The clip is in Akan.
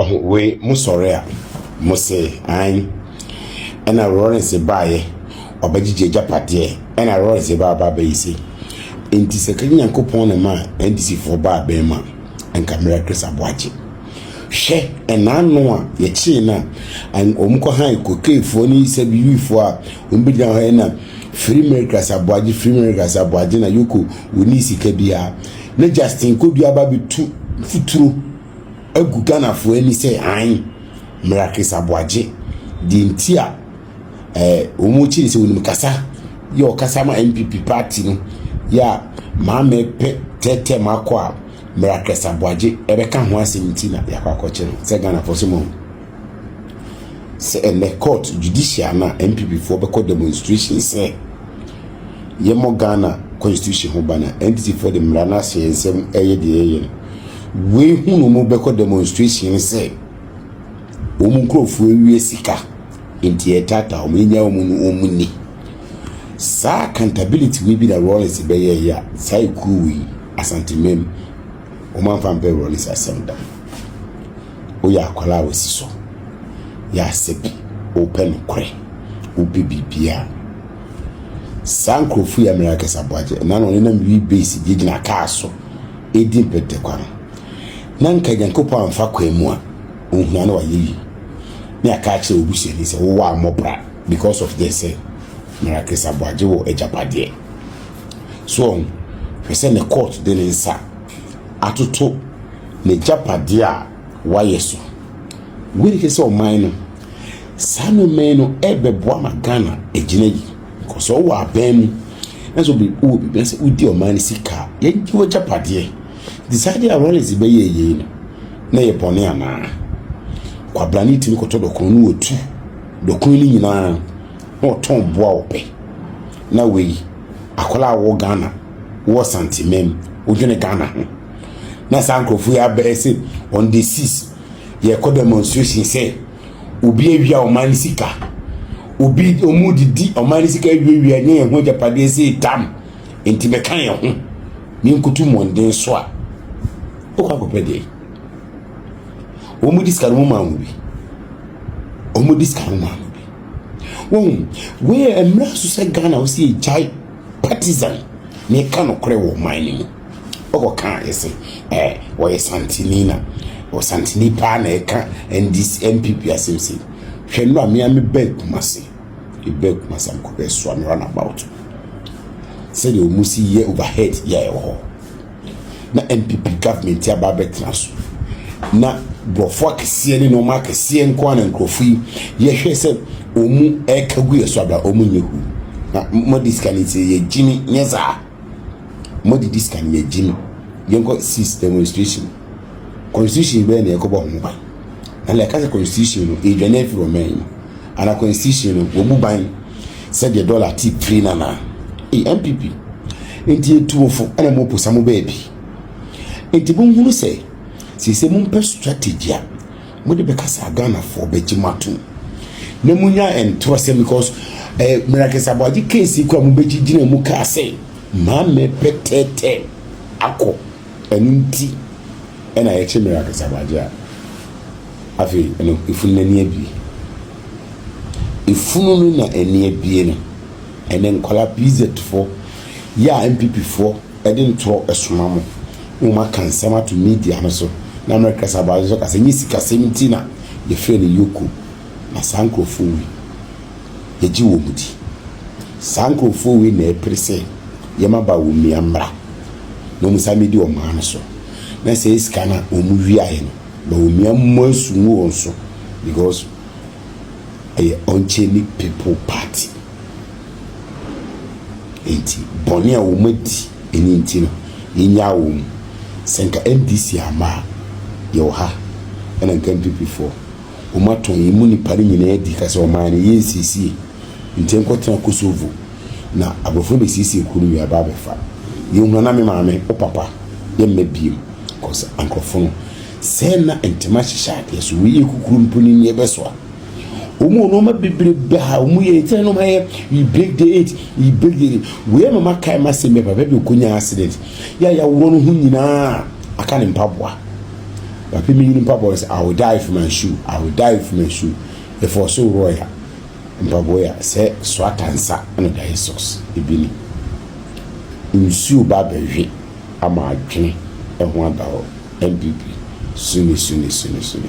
Ɔho wei mo sɔre a mo se ae ɛna Lawrence baeɛ ɔbɛgyegye agyapadeɛ ɛna Lawrence ba aba abɛyi se nti sɛ kagye Nyankopɔn na ma NDC foɔ ba abɛn ma nka mmerɛ Chris Aboagye hwɛ ɛna ano a yɛkyee no a wɔn kɔ han cocaine foɔ ne sɛ bibi foɔ a wɔn bɛgyina hɔ ɛna free Mary Chris Aboagye free Mary Chris Aboagye na yoko wɔn ni sika biara na Justin Kwadwo aba abɛtu mfuturo agu Ghanafoɔ ani sɛ ae, mmara Chris Aboagye, deɛ nti a ɛɛ wɔn kyiri sɛ wɔnim kasa yɛ ɔkasa ma NPP party no yɛ a maame pɛ tɛɛtɛɛ mu akɔ a mmara Chris Aboagye ɛbɛka ho asɛm nti na yɛakɔ akɔkye no sɛ Ghanafoɔ sɛ mo sɛ ɛnɛ court judicial na NPP foɔ bɛkɔ demonstration sɛ yɛmmɔ Ghana constitution ho ban a NDC foɔ de mmara no ahyɛ yɛn nsam ɛyɛ deɛ yɛyɛ no. Wei hu no mu bɛkɔ demonstration sɛ wɔn nkurɔfoɔ awie sika nti yɛtaataa wɔn yɛnya wɔn no wɔn ni. Saa accountability wei bi na Rawlings bɛyɛ yɛ a saa ekuo wei asantemam wɔn amfa mpɛ Rawlings asɛm da. Woyɛ akwadaa a wɔsi so yɛ asɛ bi wopɛ nokorɛ wopɛ biribiara. Saa nkurɔfo yi a mmerɛ akɛse aboagye na na wɔn nenam wii base gyinagyina kaa so redi mpɛtɛkwa no, na nka Nyankopɔn amfa kwan mu a, ohia na wayɛ yi. Ne aka akyerɛ obusuani sɛ wowɔ ammɔ bra because of this sɛ mmerɛ akɛse aboagye wɔ agyapadeɛ. So wɔn, hwɛ sɛ ne court de ne nsa atoto n'agyapadeɛ a wayɛ so. Wei ne kyerɛ sɛ ɔman no Saa nneɛma yi no ɛrebɛboa ma Ghana agyina yi. Because sɛ ɔwɔ abɛn mu na sɛ obi wɔ biribi na sɛ wodi ɔman no sika a, yɛgye w'agyapadeɛ. Nti saa adeɛ a Rawlings bɛyɛ yei no, na ɛyɛ bɔne anaa? Kwabrane tumi kɔtɔ dɔkono no wɔtu dɔkono no nyinaa na ɔtɔn boa ɔpɛ. Na wei, akwadaa a wɔ Ghana, wɔ Santeman, wodwene Ghana ho. Na saa nkurɔfoɔ yi abɛyɛ sɛ on the six yɛkɔ demonstration sɛ obi awia ɔman no sika obi ɔmu didi ɔman no sika awiawia nyɛ yɛn ho agyapadeɛ sɛ dam nti mɛka yɛn ho ne nkutu mmɔnden so a wokɔ akɔpɛ deɛ wɔn di sika no mu maa wɔn bi wɔn di sika no maa wɔn bi wɔn wei yɛ mmerɛ so sɛ ghana wɔsi gyae partisan ne ka no korɛ wɔ ɔman no mu. ɔkɔ ka ɛsɛ ɛ wɔyɛ santini na wɔ santini paa na ɛka ndc npp asɛm sɛ hwɛ no a mmea me bɛ kumase ebɛ kumase a mekɔ bɛ soa me run about sɛdeɛ wɔn si yɛ overhead yɛ a ɛwɔ hɔ na npp government aba abɛtena so na borɔfo akɛseɛ ne nneɛma akɛseɛ nko ara na nkurɔfo yi yɛhwɛ sɛ wɔn ɛka gu yɛ so abira wɔn nyɛ hu na mo disika ne sɛ yɛ gyimi nyɛ saa. Mo didi sika no yɛ gyi no. Yɛn kɔ sis demonstration. Constitution bɛyɛ na yɛ kɔ bɔ ho ban. Na yɛ kasa constitution no yɛ dwane afiri ɔman yi mu. Ana constitution no wɔbu ban sɛ deɛ dollar ti firi na na. Ee MPP. Nti yɛ tu mo fo ɛna mo posa mo baabi. Nti mo nhunu sɛ sɛ sɛ mo mpɛ strategy a. Mo de bɛka saa Ghanafoɔ bɛgye mo atom na mo nya ntorɔ sɛ because eh, Mirakis Aboagye case kɔ a mo bɛgye gyina mu kaa sɛ maame pɛ tɛɛtɛ akɔ ɛno nti ɛna yɛkye Mirakis Aboagye a afei ɛno efunu n'ani abie efunu no na ani abie no ɛnɛ nkɔla PZ foɔ yɛ a NPP foɔ Ɛde ntoro soma mo. Momma ka nsɛm ato media no so na mmerɛ kɛse aba nso ka sɛ nyɛ sikasɛm nti na yɛfrɛ no Yoko. Na saa nkurɔfoɔ wei, yɛgye wɔn di. Saa nkurɔfoɔ wei na ɛpere sɛ yɛn mmabaa wɔmmia mmra na wɔn san mmɛdi ɔman no so na sɛɛ sika no a wɔwiaeɛ no ma wɔmmia mmɔ asu ngu wɔn so because ɛyɛ Ɔnkyɛnni People Party. Enti bɔne a wɔadi ɛno nti no yɛnyaa wɔn mu. Sɛ nka NDC amma a yɛwɔ ha ɛna nka NPP foɔ wɔn atɔn yɛn mu nnipa no nyinaa adi ka sɛ ɔman no yɛnsiesie nti yɛnkɔtena Kosovo na aborɔfo no bɛsiesie kuro no wie aba abɛfa yɛn hunu na me maame wo papa yɛmma biem kɔsɛ ankorɔfo no sɛ na ntɛm ahyehyɛ adeɛ so wei yɛ kukuro mpo no ni ɛbɛsoa wɔn wɔ nneɛma bebrebe a wɔn yɛ ɛkyɛn no ayɛ we break the eight we break the eight wei ama ma kae ma sɛ mɛ papa bi okɔ nya accident yɛ a yɛaworɔ no ho nyinaa aka ne mpaboa papa mi nyini mpaboa sɛ i will die with my shoe i will die with my shoe ɛfɔ ɔso worɔ ya mpaboa ya sɛ so atansa ɛna ɔde ayɛ socks ebi ni nsuo ba abɛhwe ama adwene ɛho ada hɔ npp suni suni suni suni.